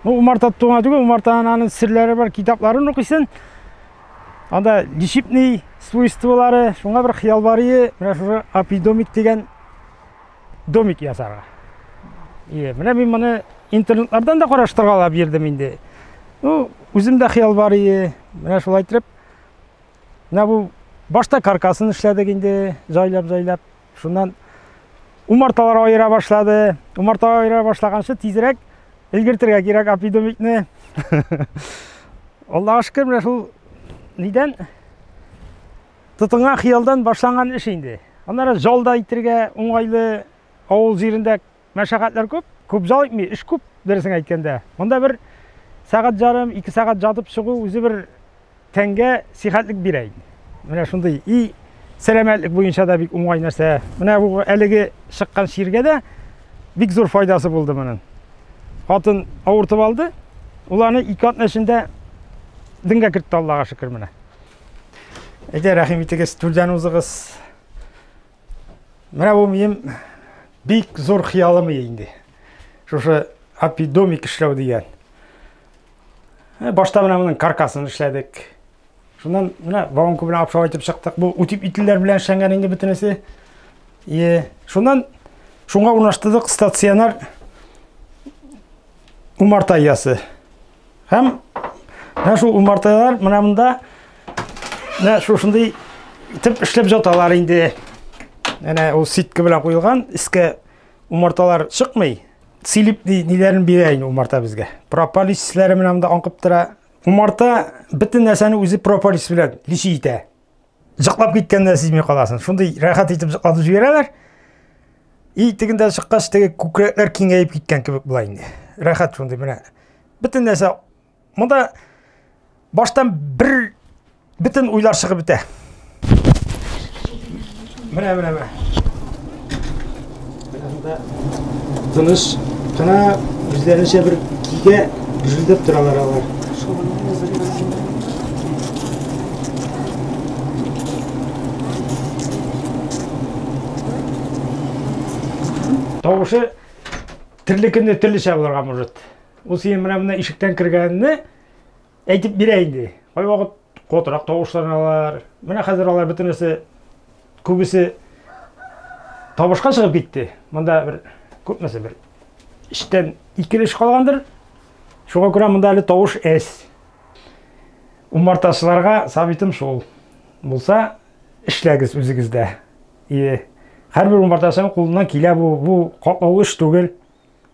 Ну, умарта туңа түгел, умартаның аның серләре бар, китапларын укыйсын. Анда лишипный свойстволары, шуңа бер хыял бар ие, менә шушы апидомик дигән домик ясарга. Ие, менә мин моны интернетлардан да караштыргалап бирдем инде. Ну, үзем дә хыял бар ие, менә шулай итеп. Менә бу башта каркасын эшләдек инде, жайлап-жайлап. Шуннан умарталар аера башлады. Умарталар аера башлаганчы тизрәк өлгертергә кирәк апидомикны. Аллага шөкер, менә шул нидән тотынган хыялдан башланган эш инде. Аннары жалда итергә уңайлы авыл җирендә Мәшәкатьләр күп, күп зал итми, эш күп, дөресен әйткәндә. Монда бер сәгать ярым, ике сәгать жатып чыгу үзе бер тәнгә сихәтлек бирә инде. Менә шундый и сәламәтлек буенча да бик уңай нәрсә. Менә бу әлеге чыккан чиргә дә бик зур файдасы булды моның. Хатын авыртып алды, ул аны ике атна эчендә дингә кертте Аллага шөкер менә. Әйдә, рәхим итегез, түрдән узыгыз. Менә бу минем бик зур хыялым инде. Шушы апидомик эшләү дигән. Э, башта менә моның каркасын эшләдек. Шуннан менә вагонка белән апшау итеп чыктык. Бу үтип ителләр белән эшләнгән инде бөтенесе. Е, шуннан шуңа урнаштырдык стационар умарта иясе. Һәм менә шул умарталар менә монда менә шушындый итеп эшләп жаталар инде. Әнә ул ситка белән куелган, искә умарталар чыкмый. Силип ниләрен бирә инде умарта безгә. Прополис исләре менә монда аңкып тора. Умарта бөтен нәрсәне үзе прополис белән лиши итә. Җыклап киткәнне сизми каласың. Шундый рәхәт итеп җыклатып җибәрәләр. И тегендә чыккач, теге күкрәкләр киңәеп киткән кебек була инде. Рәхәт шундый менә. Бөтен нәрсә монда баштан бер бөтен уйлар чыгып бетә. Менә, менә, менә. Тыныш кына үзләренчә бер кигә гүжелдәп торалар алар. Тавышы терле көнне төрлечә булырга может. Ул синең менә монда ишектән кергәнне Әйтеп бирә инде. Кайвакыт котырак тавышланалар. Менә хәзер алар бөтенесе күбесе табышка чыгып китте. Монда бер күпмесе бер эштән ике эш калгандыр. Шуңа күрә монда әле тавыш әз. Умартачыларга сабитым шул. Булса, эшләгез үзегездә. И һәрбер умартачының кулыннан килә бу, бу катлаулы эш түгел.